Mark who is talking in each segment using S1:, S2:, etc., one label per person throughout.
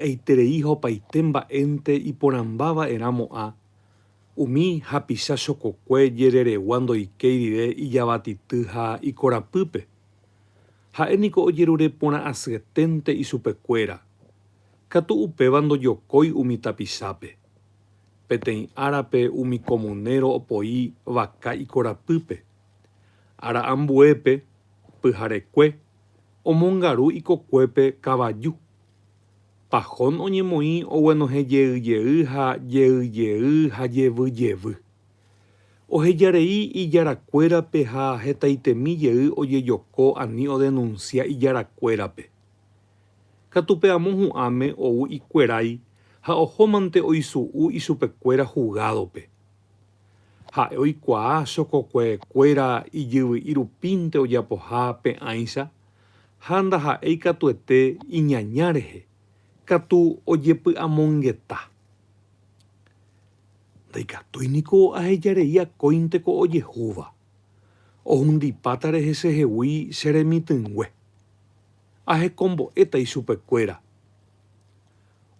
S1: Eiterei hopaite mba'énte iporãmba va'erã mo'ã, umi hapicha chokokue jereregua ndoikéi rire ijavatity ha ikorapýpe. Ha'e niko ojerure porã asyeténte ichupekuéra, katu upéva ndojokói umi tapichápe. Peteĩ árape umi komunéro opoi vaka ikorapýpe. Ára ambuépe, pyharekue, omongaru ikokuépe kavaju. Pahón oñemoĩ oguenohẽ jeyjey ha jeyjey ha jevy jevy. Oheja rei ijára kuérape ha hetaitemi jey ojejoko ani odenunsia ijára kuérape. Katu pe amo hu'ãme ou ikuerái ha ohómante oisu'u ichupe kuéra hugádope. Ha'e oikuaa chokokue kuéra ijyvy'i rupínte ojapoha pe'ãicha ha ndaha'éi katuete iñaña rehe, katu ojepy'amongeta. Ndaikatúi niko ahejarei akóinte ko ojehúva, ohundipáta rehe chehegui che remitỹngue. Ahekombo'éta ichupekuéra.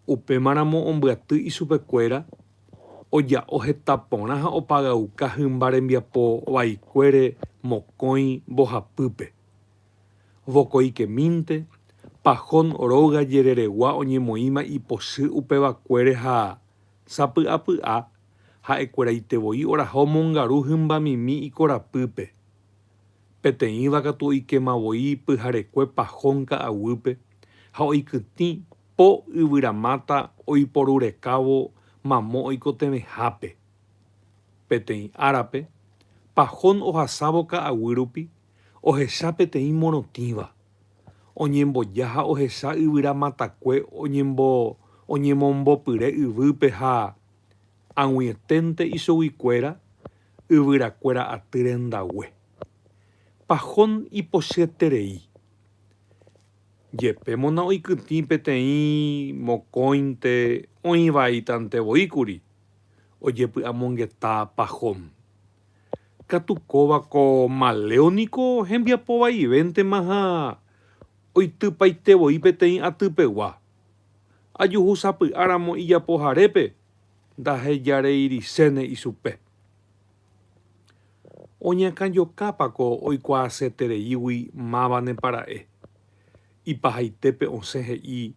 S1: Upémaramo ombyaty ichupekuéra oja'o heta porã ha opagauka hymba rembiapo vaikuére mokõi mbohapýpe. Vokoikemínte, Pajón róga jereregua oñemoĩma ipochy upevakuére ha, sapy'apy'a, ha'ekueraite voi oraha omongaru hymbamimi ikorapýpe. Peteĩva katu oikéma voi pyharekue Pajón ka'aguýpe ha oikytĩ po yvyramáta oiporurekávo mamo oikotevẽhápe. Peteĩ árape, Pajón ohasávo ka'aguýrupi ohecha peteĩ morotĩva, oñemboja ha ohecha yvyra matakue oñemombopyre yvýpe ha, ag̃uieténte ichoguikuéra, yvyrakuéra aty rendague. Pahón ipochyterei. Jepémo na'oikytĩ peteĩ mokõinte oĩvaítantevoíkuri, ojepy'amongeta Pahón. Katu kóva ko maleo niko hembiapo vaivéntema ha oitypaite voi peteĩ aty pegua. Ajuhu sapy'a ramo ijapo harépe, ndahejareiriséne ichupe. Oñakãjokápa ko oikuaasetereígui mávanepa ra'e? Ipahaitépe osẽ he'i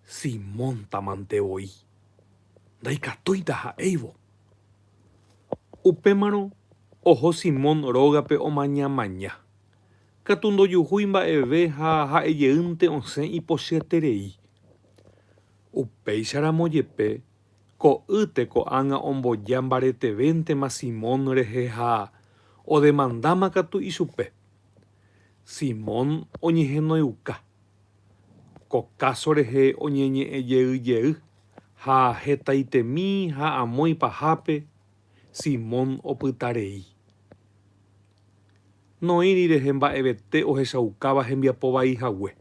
S1: Simóntamante voi. Ndaikatúita ha'éivo. Upémarõ oho Simón rógape omañamaña. Katu ndojuhúi mba'eve ha ha'e jeýnte osẽ ipochyterei. Upéicharamo jepe, ko'ýte ko'ág̃a omboja mbaretevéntema Simón rehe ha odemandáma katu ichupe. Simón oñehenoiuka. ko káso rehe oñeñe'ẽjeyjey ha hetaitemi ha amói pahápe Simón opyta rei. Noĩri rehe mba'evete ohechaukáva hembiapo vai hague.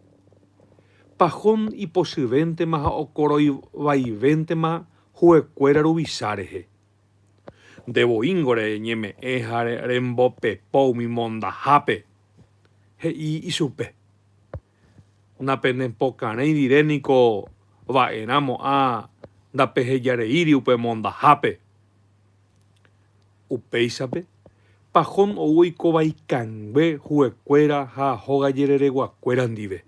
S1: Pahón ipochyvéntema ha okoroi vaivéntema huekuéra ruvicha rehe. Nde voíngo reñeme'ẽ ha rembopepo umi mondahápe. He'i ichupe, Napenepokarẽi rire niko va'erã mo'ã ndapehejareíri upe mondahápe. Upéichape, Pajón ou oikóva ikangue huekuéra ha hogajerereguakuéra ndive.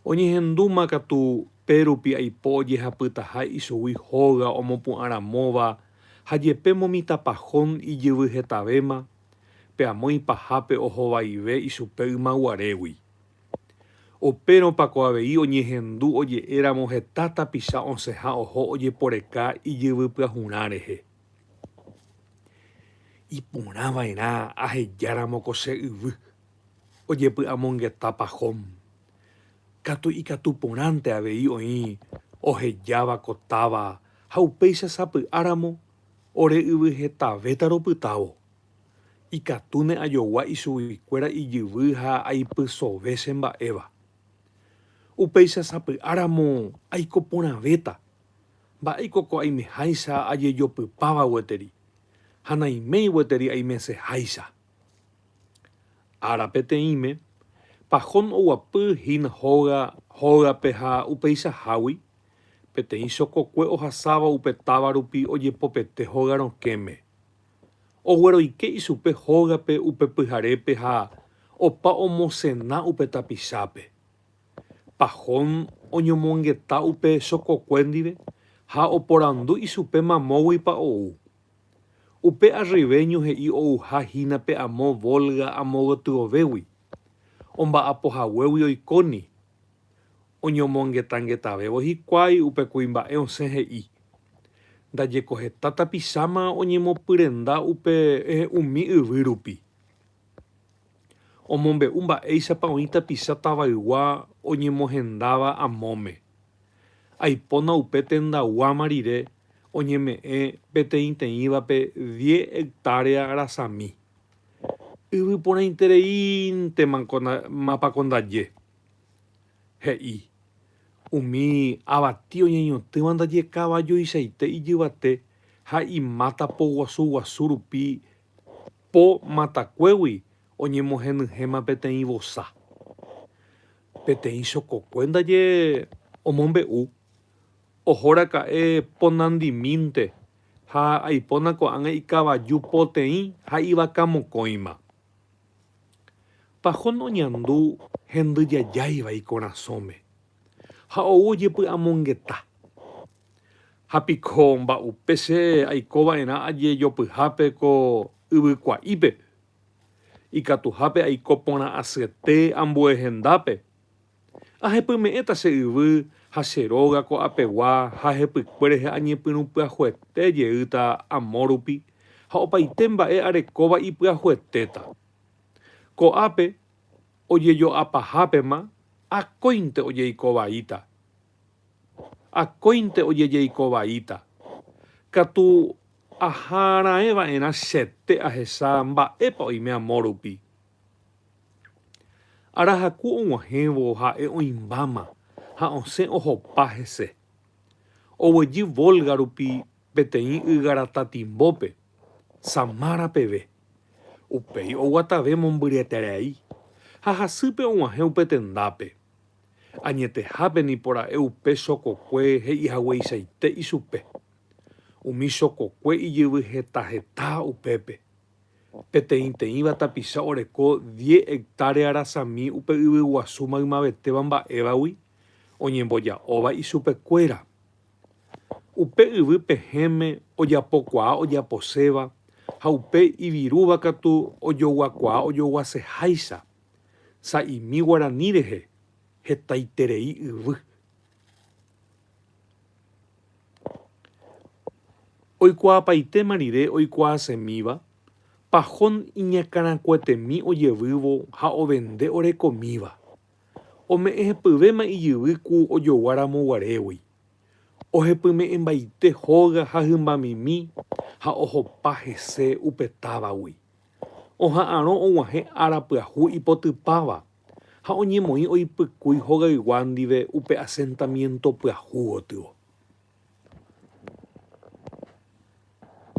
S1: Oñehendúma katu pe rupi aipo ojehapytaha ichugui hóga omopu'ã ramóva ha jepémo mitãpa Jon ijyvy hetavéma, pe amo ipahápe ohovaive ichupe ymaguarégui. Upérõpa ko avei oñehendu oje'e ramo heta tapicha osẽha oho ojeporeka ijyvy pyahurã rehe. Iporã va'erã aheja ramo ko che yvy. ojepy'amongeta Pahom katu ikatu porãnte avei oĩ ohejáva ko táva ha upéicha sapy'áramo ore yvy hetavéta ropytávo. Ikatúne ajogua ichuguikuéra ijyvy ha aipysove che mba'éva. Upéicha sapy'áramo aiko porãvéta, mba'éiko ko aimeháicha ajejopypáva gueteri, ha naiméi gueteri aimeseháicha. Ára peteĩme, Pahón oguapy hína hóga hógape ha upeichahágui, peteĩ chokokue ohasáva upe táva rupi ojepopete hóga rokẽme. Ogueroike ichupe hógape upe pyharépe ha opa omosena upe tapichápe. Pahón oñomongeta upe chokokue ndive ha oporandu ichupe mamóguipa ou. Upe arrive ñohe'i ouha hína pe amo Volga amo gotyovégui, omba'apo haguégui oikóni. Oñomongetangetavẽvo hikuái upe kuimba'e osẽ he'i, Ndajeko heta tapicháma oñemopyrenda upe umi yvy rupi. Omombe'u mba'éichapa oĩ tapicha tavaygua oñemohendáva amóme. Aipóna upe tendaguáma rire oñeme'ẽ peteĩteĩvape diez hectárea rasami. Yvyporãitereíntema mapa ko ndaje. He'i, Umi avati oñeñotỹva ndaje kavajoichaite ijyvate ha imáta po guasu guasu rupi po matakuégui oñemohenyhẽma peteĩ vosa. Peteĩ chokokue ndaje omombe'u, Ohoraka'e ponandimínte ha aipóna ko'ág̃a ikavaju poteĩ ha ivaka mokõima. Pahón oñandu hendy jajáiva ikorasõme ha ou ojepy'amongeta. Ha piko mba'upe che aiko va'erã ajejopyhápe ko yvykua'ípe? Ikatuhápe aiko porã asyete ambue hendápe. Ahepyme'ẽta che yvy ha che róga ko'apegua ha ahepykue rehe añepyrũ pyahuete jeýta amórupi ha opaite mba'e arekóva ipyahuetéta. Ko'ápe ojejo'apahápema akóinte ojeiko vaíta. Akóinte ojejeiko vaíta. Katu aha'arãe va'erã chete ahecha mba'épa oime amo rupi. Arahaku og̃uahẽvo ha'e oĩmbáma ha osẽ ohopa hese. Oguejy Volga rupi peteĩ ygara tatimbópe, Samara peve. Upéi oguatave mombyryetereai ha hasýpe og̃uahẽ upe tendápe. Añetehápe nipo ra'e upe sokokue he'ihagueichaite ichupe. Umi sokokue ijyvy heta heta upépe. Peteĩteĩva tapicha oreko diez hectárea rasami upe yvyguasu maymavetéva mba'évagui oñemboja'óva ichupekuéra. Upe yvy pehẽme ojapokuaa ojaposéva ha upe ivirúva katu ojoguakuaa ojoguaseháicha. sa'imi guarani rehe hetaiterei yvy. Oikuaapaitéma rire oikuaasemíva, Pajón iñakãrakuetemi ojevývo ha ovende orekomíva. Ome'ẽ hepyvéma ijyvy ku ojogua ramo guarégui. Ohepyme'ẽmbaite hóga ha hymbamimi ha ohopa hese upe távagui. Oha'arõ oguahẽ ára pyahu ipotypáva ha oñemoĩ oipykúi hogaygua ndive upe asentamiénto pyahu gotyo.